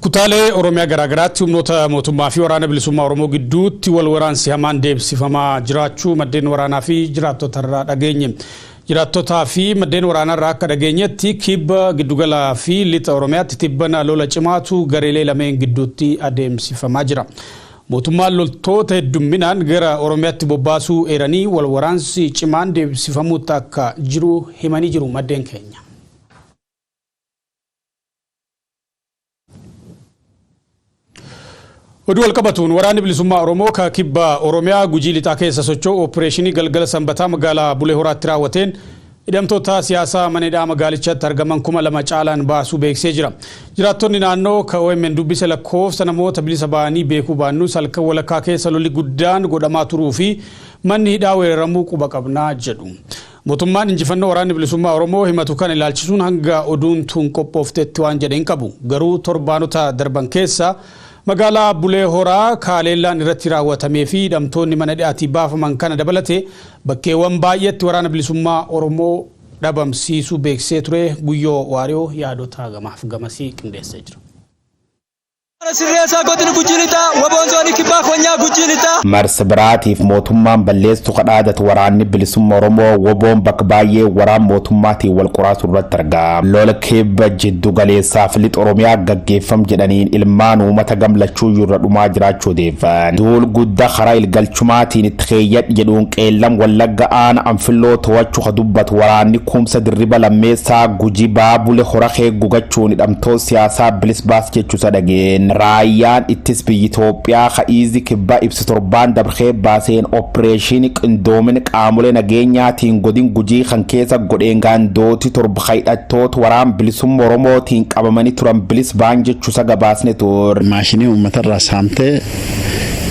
Kutaalee Oromiyaa garaagaraatti humnoota mootummaa fi waraana bilisummaa Oromoo gidduutti wal waraansi hamaan deemsifamaa jiraachuu maddeen waraanaa fi jiraattota irraa dhageenye. Jiraattotaa fi maddeen waraanaa irraa akka dhageenyetti kibba giddugalaa fi lixa Oromiyaatti tibbana lola cimaatu gareelee lameen gidduutti adeemsifamaa jira. Mootummaan loltoota heddumminaan gara Oromiyaatti bobbaasuu eeranii wal waraansi cimaan deebisifamuutti akka jiru himanii jiru maddeen keenya. Oduu walqabatuun waraanni bilisummaa Oromoo ka kibba Oromiyaa gujii lixaa keessa socho'u oppireeshinii galgala sanbataa magaalaa Bulee Horaatti raawwateen Hidhamtoota siyaasaa mana hidhaa magaalichatti argaman 2000 caalaan baasuu beeksisee jira. Jiraattonni naannoo ka omn dubbise lakkoofsa namoota bilisa ba'anii beekuu baannus halkan walakkaa keessa lolli guddaan godhamaa turuu fi manni hidhaa weeraramuu quba qabna jedhu. Mootummaan injifannoo waraanni bilisummaa Oromoo himatu kana ilaalchisuun hanga oduun tun qophooftetti waan jedhe hin qabu. Garuu torbaanota darban keessa Magaalaa Bulee Horaa kaaleellaan irratti raawwatamee fi hidhamtoonni mana hidhaatii baafaman kana dabalatee bakkeewwan baay'eetti Waraana Bilisummaa Oromoo dhabamsiisuu beeksisee ture Guyyoo Waariyoo yaadota gamaaf gamasii qindeessee jira. Haala sirreessaa godina Gujii Lixaa, Waboon Zoonii Kibbaa Konyaa Gujii Lixaa. Marsa biraatiif mootummaan balleessu kadhaadatu waraanni bilisumma Oromoo woboon bakka baay'ee waraan mootummaatiin wal qoraasu irratti argama. Lola Kibba jiddu galeessaa fi lixa Oromiyaa gaggeeffam jedhaniin ilmaan uumata gamlachuuyyuu irra dhumaa jiraachuu odeeffan. Duul gudda karaa ilgalchumaatiin itti keeyyadhi jedhuun Qeellam Wallagga aana Anfilloo to'achu ka dubbatu waraanni Kumsa Dirriba Lammeessaa Guji Baabule Horakee gugachuun hidhamtoot siyaasaa bilis baas jechusa dhageen. Raayyaan ittis biyyi Itoophiyaa ka Iizi Kibbaa ibsa torbaan dabre kee baaseen oppireeshiini qindoomin qaamolee nageenyaatiin godin Gujii kan keessa godheen gaandooti 7 Hidhattoota waraan bilisumma Oromootiin qabamanii turan bilis baan jechuusa gabaasne tur. Maashinii uummatarraa saamtee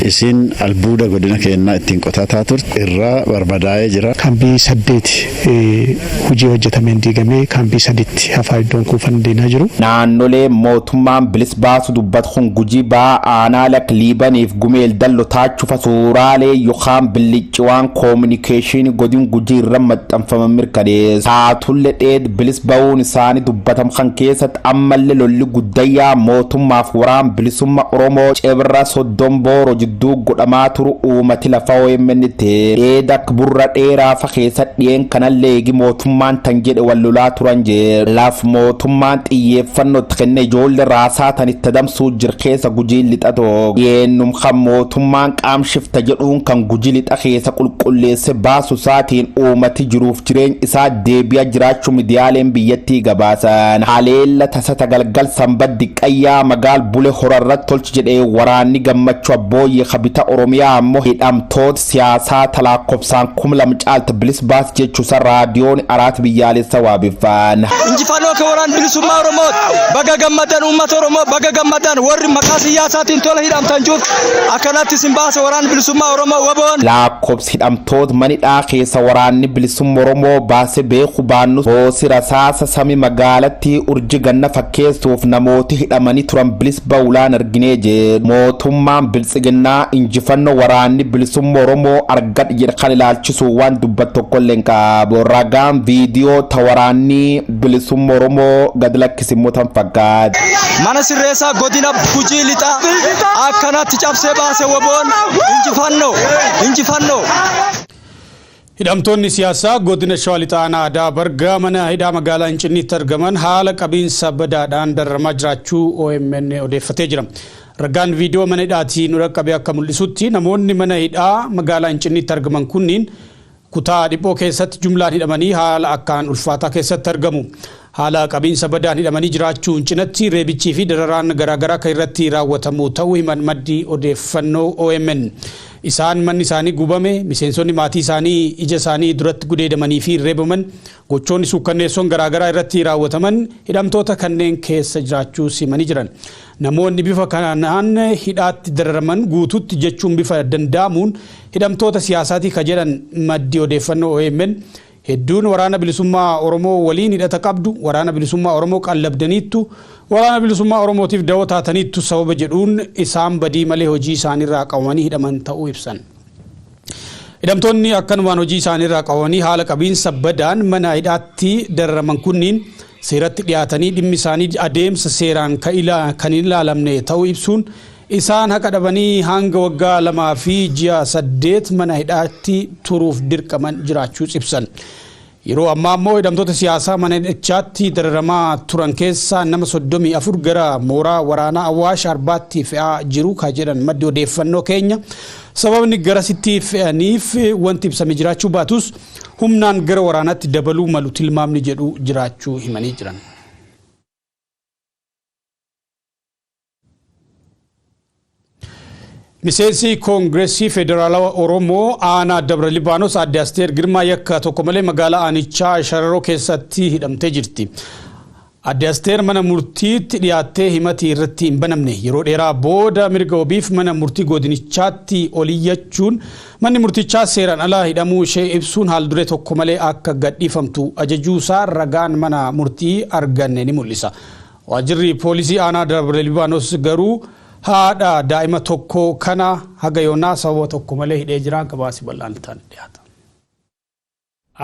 isiin albuuda godina keennaa ittiin qotataa turte irraa barbadaa'ee jira. Kaambii saddeeti hujii hojjatameen diigamee kaambii saditti hafaa iddoon kuufanni diinaa jiru. Naannolee mootummaan bilis baasu dubbatu kun Gujii Bahaa Aanaa Lak Liibaniif Gumeel Dallo Taachufa suuraalee yokaan billi. Ciwaan koominikeeshiini godin Gujii irra maxxanfaman mirkaneessa. Taatulle dheed bilis ba'uun isaani dubbatam kan keessatti ammalle lolli guddayyaa mootummaaf waraan bilisumma Oromoo Cebra Soddon Booro jidduu godhamaa turu uumati lafa omn itti dheed akka burra dheeraa fa keessatti dhiyeen kanalle eegi mootummaan tan jedhe wal lolaa turan jir. Laf mootummaan xiyyeeffanno itti kenne ijoolle raasaa tan itti adamsuu jir keessa Gujiin Lixa tokko. Dhiyeennum kan mootummaan Qaam shifta jedhuun kan Guji lixa keesa qulqulleesse baasu isaatiin uumati jiruuf jireeny isaa deebi'a jiraachu midiyaaleen biyyattii gabaasan. Haleella tasa tagalgal Sanbat Diqqayyaa magaal Bule Hora irrat tolch jedhe waraanni Gammachu Abbooyye ka bita Oromiyaa ammo hidhamtoot siyaasaa ta laakkofsaan kum lam caalt bilis baas jechu isa Raadiyooni Araat Biyyaalessa waabeffaan. Injifannoo kan Waraana Bilisummaa Oromooti! Baga gammaddan uummata Oromoo baga gammaddan warri maqaa siyyaasaatiin tola hidhamtan jirtu. Akkanatti isin baase waraanni bilisummaa Oromoo waboon. Laakkobsi hidhamtoot manidhaa keessa waraanni bilisumma Oromoo baase beeku baannus roosi rasaasa sami magaalatti urji ganna fakkeessuuf namooti hidhamani turan bilis baulaan arginee jeedhu. Mootummaan biltsiginnaa injifanno waraanni bilisumma Oromoo argadhe jedhe kan ilaalchisuun waan dubbat tokkolle hin qaabu. Ragaan viidiyoo ta waraanni bilisumma Oromoo gad immoo tan faggaad. Mana sirreessaa godina Gujii lixaa akkanatti cabsee baase woboon injifannoo injifannoo. Hidhamtoonni siyaasaa godina Shawaa Lixaa Aanaa Adaa Bargaa mana hidhaa magaalaa Incinniitti argaman haala qabiinsa badaadhaan dararamaa jiraachuu OMN odeeffatee jira. Ragaan viidiyoo mana hidhaatii nu dhaqqabe akka mul'isutti namoonni mana hidhaa magaalaa Incinniitti argaman kunniin Kutaa dhiphoo keessatti jumlaan hidhamanii haala akkaan ulfaataa keessatti argamu. Haala qabiinsa badaan hidhamanii jiraachuun cinatti reebichii fi dararaan garaagaraa kan irratti raawwatamu ta'uu himan maddi odeeffannoo omn. Isaan manni isaanii gubame, miseensonni maatii isaanii ija isaanii duratti gudeedamanii fi reebaman, gochoonni suukkanneessoon garaagaraa irratti raawwataman hidhamtoota kanneen keessa jiraachuus himanii jiran. Namoonni bifa kanaan hidhaatti dararaman guututti jechuun bifa danda'amuun hidhamtoota siyaasaati ka jedhan maddi odeeffannoo omn, hedduun Waraana Bilisummaa Oromoo waliin hidhata qabdu, Waraana Bilisummaa Oromoo qallabdaniittu, Waraana Bilisummaa Oromootiif dawoo taataniittu sababa jedhuun isaan badii malee hojii isaaniirraa qabamanii hidhaman ta'uu ibsan. Hidhamtoonni akkanumaan hojii isaaniirraa qabamanii haala qabiinsa badaan mana hidhaatti dararaman kunniin seeratti dhiyaatanii dhimmi isaanii adeemsa seeraan kan hin ilaalamne ta'uu ibsuun isaan haqa dhabanii hanga waggaa lamaa fi ji'a saddeet mana hidhaatti turuuf dirqaman jiraachuus ibsan. Yeroo ammaa ammoo hidhamtoota siyaasaa mana hidhachaatti dararamaa turan keessaa nama 34 gara mooraa waraanaa Awaash Arbaatti fe'aa jiru ka jedhan maddi odeeffannoo keenya sababni garasitti fe'aniif wanti ibsame jiraachuu baatus humnaan gara waraanaatti dabaluu malu tilmaamni jedhu jiraachuu himanii jiran. Miseensi Koongireesii Federaalawa Oromoo aanaa Dabra Libaanos Aadde Asteer Girmaa yakka tokko malee magaalaa aanichaa Shararoo keessatti hidhamtee jirti. Aadde Asteer mana murtiitti dhiyaattee himati irratti hin banamne. Yeroo dheeraa booda mirga wabiif mana murtii godinichaatti oliyyachuun manni murtichaa seeraan ala hidhamuu ishee ibsuun haalduree tokko malee akka gadhiifamtu ajajuusaa ragaan mana murtii arganne ni mul'isa. Waajjirri poolisii aanaa Dabre Libaanos garuu haadha daa'ima tokkoo kana haga yoonaa sababa tokko malee hidhee jira. Gabaasi bal'aan itti aanee dhiyaata.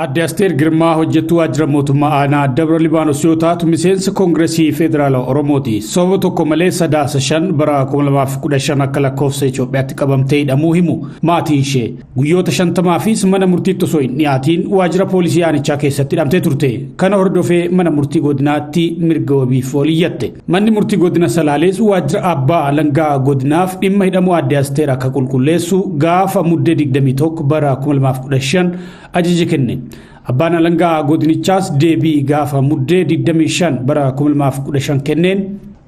Aadde Asteer Girmaa hojjettuu waajjira mootummaa aanaa Dabra Libaanos yoo taatu miseensa Koongiresii Federaalaa Oromooti. Sababa tokko malee sadaasa shan bara 2015 akka lakkoofsa Itoophiyaatti qabamtee hidhamuu himu maatiin ishee. Guyyoota shantamaafis mana murtiitti osoo hin dhiyaatiin waajjira poolisii aanichaa keessatti hidhamtee turte. Kana hordofee mana murtii godinaatti mirga wabiif ol iyyatte. Manni murtii godina Salaalees waajjira abbaa alangaa godinaaf dhimma hidhamuu aadde Asteer akka qulqulleessu gaafa muddee 21 bara 2015 ajaja kenne. Abbaan alangaa godinichaas deebii gaafa muddee 25 bara 2015 kenneen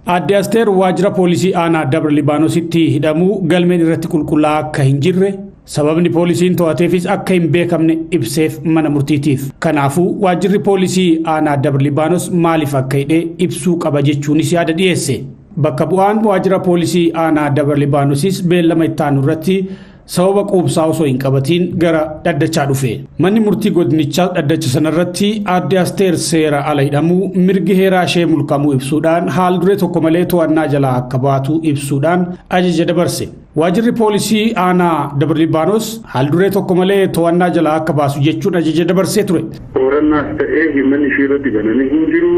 Aadde Asteer waajjira poolisii aanaa Dabra Libaanositti hidhamuu galmeen irratti qulqullaa'aa akka hin jirre sababni poolisiin to'ateefis akka hin beekamne ibseef mana murtiitiif. Kanaafuu waajjirri poolisii aanaa Dabra Libaanos maaliif akka hidhe ibsuu qaba jechuunis yaada dhiyeesse. Bakka bu'aan waajjira poolisii aanaa Dabra Libaanosis beellama ittaanu irratti sababa quubsaa osoo hin qabatiin gara dhaddachaa dhufe. Manni murtii godinichaas dhaddacha sanarratti aadde Asteer seera ala hidhamuu mirgi heeraa ishee mulqamuu ibsuudhaan haal duree tokko malee to'annaa jalaa akka baatu ibsuudhaan ajaja dabarse. Waajirri poolisii aanaa Dabra Libaanos haal duree tokko malee to'annaa jalaa akka baasu jechuun ajaja dabarsee ture. Qorannaas ta'ee himanni ishee irratti banamee hin jiru.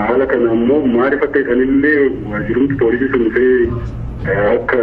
Haala kana ammoo maaliif akka hisanillee waajirumti poolisii sun dhufee akka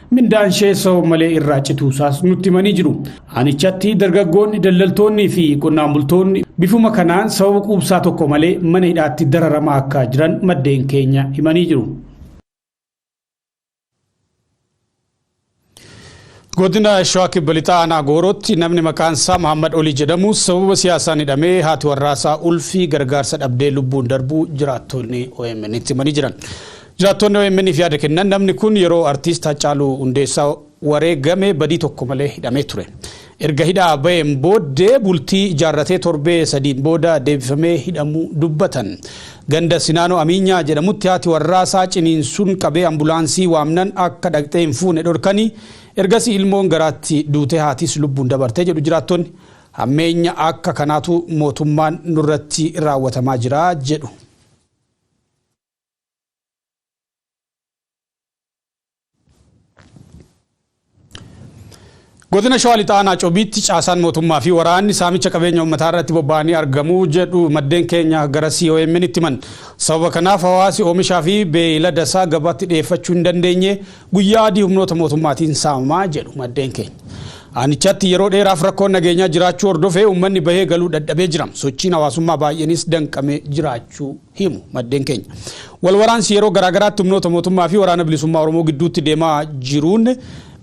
Mindaan ishee sababa malee irraa cituusaas nutti himanii jiru. Aanichatti dargaggoonni daldaltoonnii fi qonnaan bultoonni bifuma kanaan sababa quubsaa tokko malee mana hidhaatti dararamaa akka jiran maddeen keenya himanii jiru. Godina Shawaa Kibba Lixaa Aanaa Goorootti namni maqaan isaa Mahammad Olii jedhamu sababa siyaasaan hidhamee haati warraasaa ulfii gargaarsa dhabdee lubbuun darbuu jiraattonni OMN itti himanii jiran. Jiraattoonni OMN'f yaada kennan namni kun yeroo Artiist Haccaaluu Hundeessaa wareegame badii tokko malee hidhamee ture. Erga hidhaa baheen booddee bultii ijaarratee torbee sadiin booda deebifamee hidhamuu dubbatan. Ganda Sinaanoo Amiinyaa jedhamutti haati warraasaa ciniinsuun qabee ambulaansii waamnan akka dhaqxee hin fuune dhorkanii ergasii ilmoon garaatti duutee haatiis lubbuun dabarte jedhu jiraattonni. Hammeenya akka kanaatu mootummaan nurratti raawwatamaa jira jedhu. Godina Shawaa Lixaa Aanaa Cobiitti caasaan mootummaa fi waraanni saamicha qabeenya uummataa irratti bobba'anii argamu jedhu maddeen keenya gara COMN itti himan. Sababa kanaaf hawaasi oomishaa fi beeylada isaa gabaatti dhiyeeffachuu hin dandeenye guyyaa adii humnoota mootummaatiin saamamaa jedhu maddeen keenya. Aanichatti yeroo dheeraaf rakkoon nageenyaa jiraachuu hordofee uummanni bahee galuu dadhabee jira. Sochiin hawaasummaa baay'eenis danqamee jiraachuu himu maddeen keenya. Wal waraansi yeroo garaagaraatti humnoota mootummaa fi Waraana Bilisummaa Oromoo gidduutti deemaa jiruun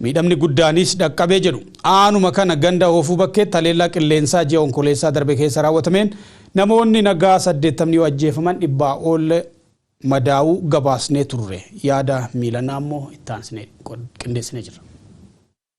miidhamni guddaanis dhaqqabee jedhu. Aanuma kana ganda Hoofuu Bakkeetti haleellaa qilleensaa ji'a Onkololeessaa darbe keessa raawwatameen namoonni nagaa 80 yoo ajjeefaman dhibbaa ol madaa'uu gabaasnee turre. Yaada Miilanaa immoo itti aansinee qindeessinee jirra.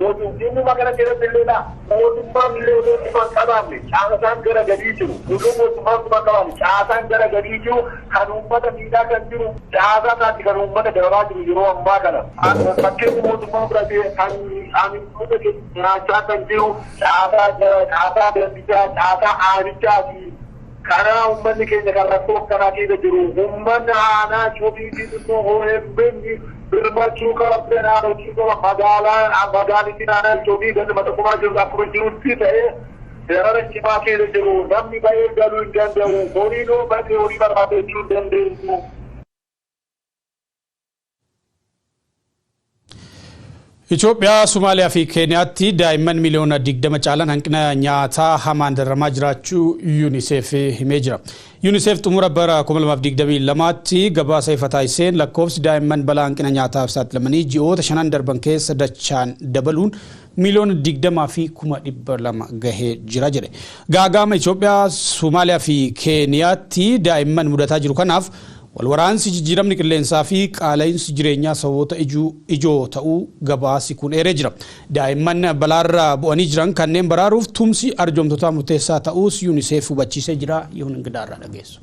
Mootumtiinni magala keessattillee dha. Mootummaan illee utuu bifa hin qabaanne, caasaan gara gadii jiru, utuu mootummaan bifa hin qabaanne, caasaan gara gadii jiru, kan uummata miidhaa kan jiru, caasaa isaatti kan uummata dararaa jiru yeroo ammaa kana. Fakkeenyi mootummaan fudhate kan aanga'oota keenya nyaachaa kan jiru, caasaa caasaa gandichaa, caasaa aanichaa ti. Karaa ummanni keenya kan rakkoo akkanaa keessa jiru ummanni aanaa Cobii Xixiqqoo omn birmachuu qaba seeraan hojii qaba magaalaa magaalitiin aanaa Cobii ganda Maxaqumaa jirtu akkuma jirutti ta'ee darara cimaa keessa jiru namni ba'ee galuu hin danda'u horiin yoo badee horii barbaadachuu hin dandeenyu. Itoophiyaa, Somaaliyaa fi Keeniyaatti daa'imman miliyoona 20 caalan hanqina nyaataa hamaan dararamaa jiraachuu UNICEF himee jira. UNICEF xumura bara 2022tti gabaasa ifa taasiseen lakkoofsi daa'imman balaa hanqina nyaataaf saaxilamanii ji'oota shanan darban keessa dachaan dabaluun miiliyoona 20 fi kuma 200 gahee jira jedhe. Gaaga'ama Itoophiyaa, Somaaliyaa fi Keeniyaatti daa'imman mudataa jiru kanaaf walwaraansi, jijjiiramni qilleensaa fi qaala'insi jireenyaa sababoota ijoo ta'uu gabaasi kun eeree jira. Daa'imman balaarra bu'anii jiran kanneen baraaruuf tumsi arjoomtotaa murteessaa ta'uus Unicef hubachiisee jira. Yihun Ingidaarraa dhageessu.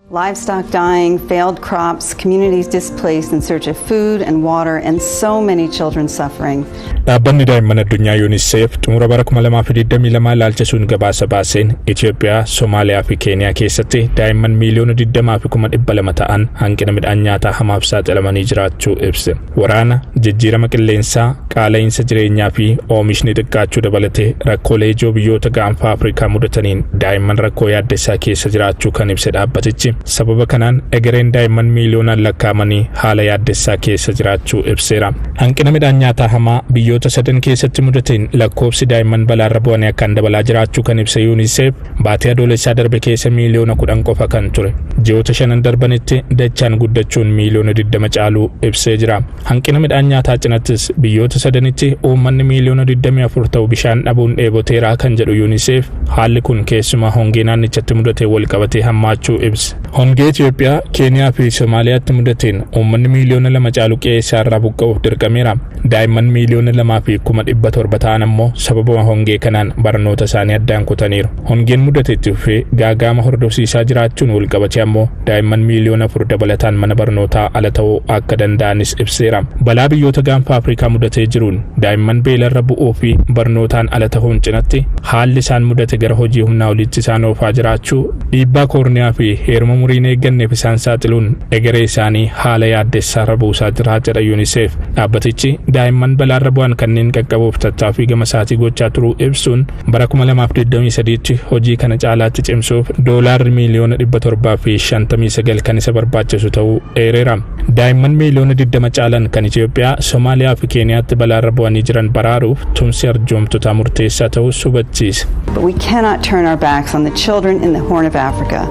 Livestock dying, failed crops, communities displaced in search of food and water, and so many children suffering. Dhaabbanni daa'imman addunyaa UNICEF xumura bara 2022 ilaalchisuun gabaasa baaseen Itoophiyaa, Somaaliyaa fi Keeniyaa keessatti daa'imman miiliyoona 20 fi 200 ta'an hanqina midhaan nyaataa hamaaf saaxilamanii jiraachuu ibse. Waraana, jijjiirama qilleensaa, qaala'iinsa jireenyaa fi oomishni xiqqaachuu dabalatee rakkoolee ijoo biyyoota gaanfaa Afrikaa mudataniin daa'imman rakkoo yaaddessaa keessa jiraachuu kan ibse dhaabbatichi sababa kanaan egereen daa'imman miiliyoonaan lakkaa'amanii haala yaaddessaa keessa jiraachuu ibseera. Hanqina midhaan nyaataa hamaa biyyoota sadan keessatti mudateen lakkoofsi daa'imman balaarra bu'anii akkaan dabalaa jiraachuu kan ibse Yuuniseef Baatii adoolessaa darbe keessa miiliyoona 10 qofa kan ture ji'oota shanan darbanitti dachaan guddachuun miiliyoona 20 caaluu ibsee jira. Hanqina midhaan nyaataa cinattis biyyoota sadanitti uummanni miiliyoona 24 ta'u bishaan dhabuun dheeboteeraa kan jedhu UNICEF haalli kun keessumaa hongee naannichatti mudatee wal qabatee hammaachuu ibse. Hongee Itoophiyaa, Keeniyaa fi Somaaliyaatti mudateen uummanni miiliyoona lama caalu qe'ee isaarraa buqqa'uuf dirqameera. Daa'imman miiliyoona lamaa fi kuma dhibba torba ta'an ammoo sababuma hongee kanaan barnoota isaanii addaan kutaniiru. Hongeen mudate itti fufee gaaga'ama hordofsiisaa jiraachuun walqabatee ammoo daa'imman miiliyoona afur dabalataan mana barnootaa ala ta'uu akka danda'anis ibseera. Balaa biyyoota gaanfa Afrikaa mudatee jiruun daa'imman beelarra bu'uu fi barnootaan ala ta'uun cinatti haalli isaan mudate gara hojii humnaa oliitti isaan oofaa jiraachuu dhiibbaa koorniyaa fi heeruma muriin eegganneef isaan saaxiluun egeree isaanii haala yaaddessaarra buusaa jira jedha UNICEF. Dhaabbatichi daa'imman balaarra bu'an kanneen qaqqabuuf tattaaffii gama isaatii gochaa turuu ibsuun, bara 2023tti hojii kana caalaatti cimsuuf Doolaarri miiliyoona 759 kan isa barbaachisu ta'uu eereera. Daa'imman miiliyoona 20 caalan kan Itoophiyaa, Somaaliyaa fi Keeniyaatti balaarra bu'anii jiran baraaruuf tumsi arjoomtotaa murteessaa ta'uus hubachiise. But we cannot turn our backs on the children in the Horn of Africa.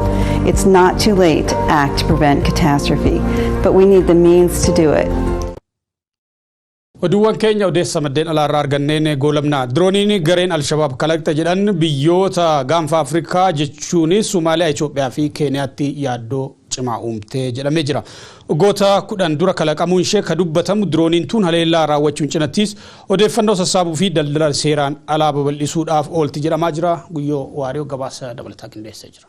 It's not too late to act to prevent catastrophe, but we need the means to do it. Oduuwwan keenya odeessa maddeen alaarraa arganneen goolabna. Dirooniin gareen Alshabaab kalaqxe jedhan biyyoota gaanfa Afrikaa jechuunis Somaaliyaa, Itoophiyaa fi Keeniyaatti yaaddoo cimaa uumte jedhamee jira. Waggoota kudhan dura kalaqamuun ishee ka dubbatamu dirooniin tun haleellaa raawwachuun cinattis odeeffannoo sassaabuu fi daldala seeraan alaa babal'isuudhaaf oolti jedhamaa jira. Guyyoo Waariyoo gabaasa dabalataa qindeessee jira.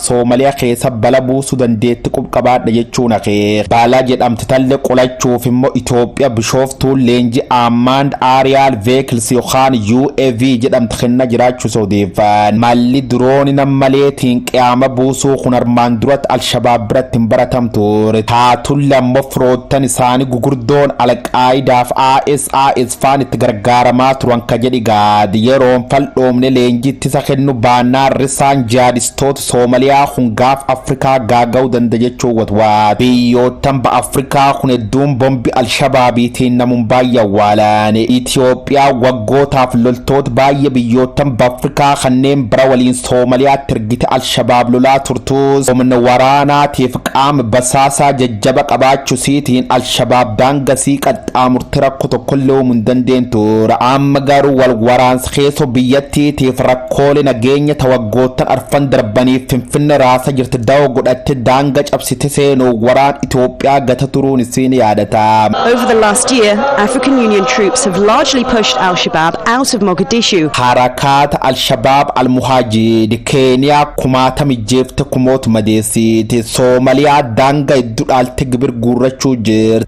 Soomaliya keessa bala buusu dandeetti qub qabaadha jechuun akeeka. Baala jedhamti talle qolachuuf immo Itoophiya Bishooftuun leenji Aammaand Aariyaal Veekils yokaan UAV jedhamti kenna jiraachus odeeffan. Malli Durooni nam maleetiin qiyaama buusuu kun armaan durat Alshabaab biratti hin baratam tuure. Taatulle ammo firoottan isaani gugurdoon Alqaayidaaf ISIS faan itti gargaaramaa turan ka jedhi Gaad. Yeroon fal dhoomne leenji ittisa kennu baannaan risaan jihaadistootaa Toot Soomaliyaa kun gaaf Afrikaa gaaga'u danda jechuun watwaat. Biyyoottan ba Afrikaa kun hedduun bombi Alshabaabiitiin namun baayye awwaalaan. Itoophiyaan waggootaaf loltoot baayye biyyoottan bAfrikaa kanneen bira waliin Soomaliyaatti ergite Alshabaab lolaa turtuus humna waraanaatiif qaama basaasaa jajjaba qabaachusiitiin Alshabaab daanga sii xaamurte rakko tokkolle uumu hin dandeentu. Amma garuu wal waraansi keessoo biyyattiitiif rakkoole nageenya ta waggoottan arfan darbaniif Finfinne raasa jirte dawoo godhatte daanga cabsite seenuun waraan Itoophiyaa gata turuun isii ni yaadata. Over the last year, African Union troops have largely pushed al-Shabaab out of Mogadishu. Harakaata al-Shabaab al-Muhajid Keeniyaa kumaata mijjeefte kumoot madeessiiti. Soomaliyaa daanga iddu dhaalte gibir guurrachuu jirti.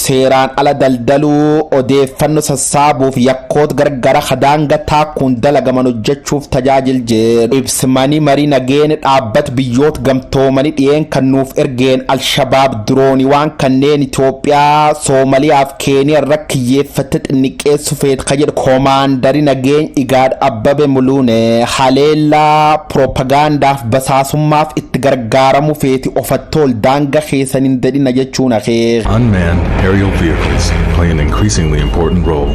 seeraan ala daldaluu, odeeffanno sassaabuuf yakkoot gargara ka daanga taakkuun dalagaman hojjachuuf tajaajil jedhu ibs Mani Mari Nageen Dhaabbat Biyyoot Gamtoomani dhiyeen kan nuuf ergeen Alshabaab Dirooniwaan kanneen Itoophiyaa, Soomaliyaa fi Keeniya irra kiyyeeffatte xinniqqeessu feet ka jedhu Komaandari Nageeny Igaad Abbabe Muluune haleellaa piroopagaandaaf Basaasummaaf itti gargaaramu feeti ofattool daanga keesan hin dadhina jechuun akeek. Unmanned aerial vehicles play an increasingly important role.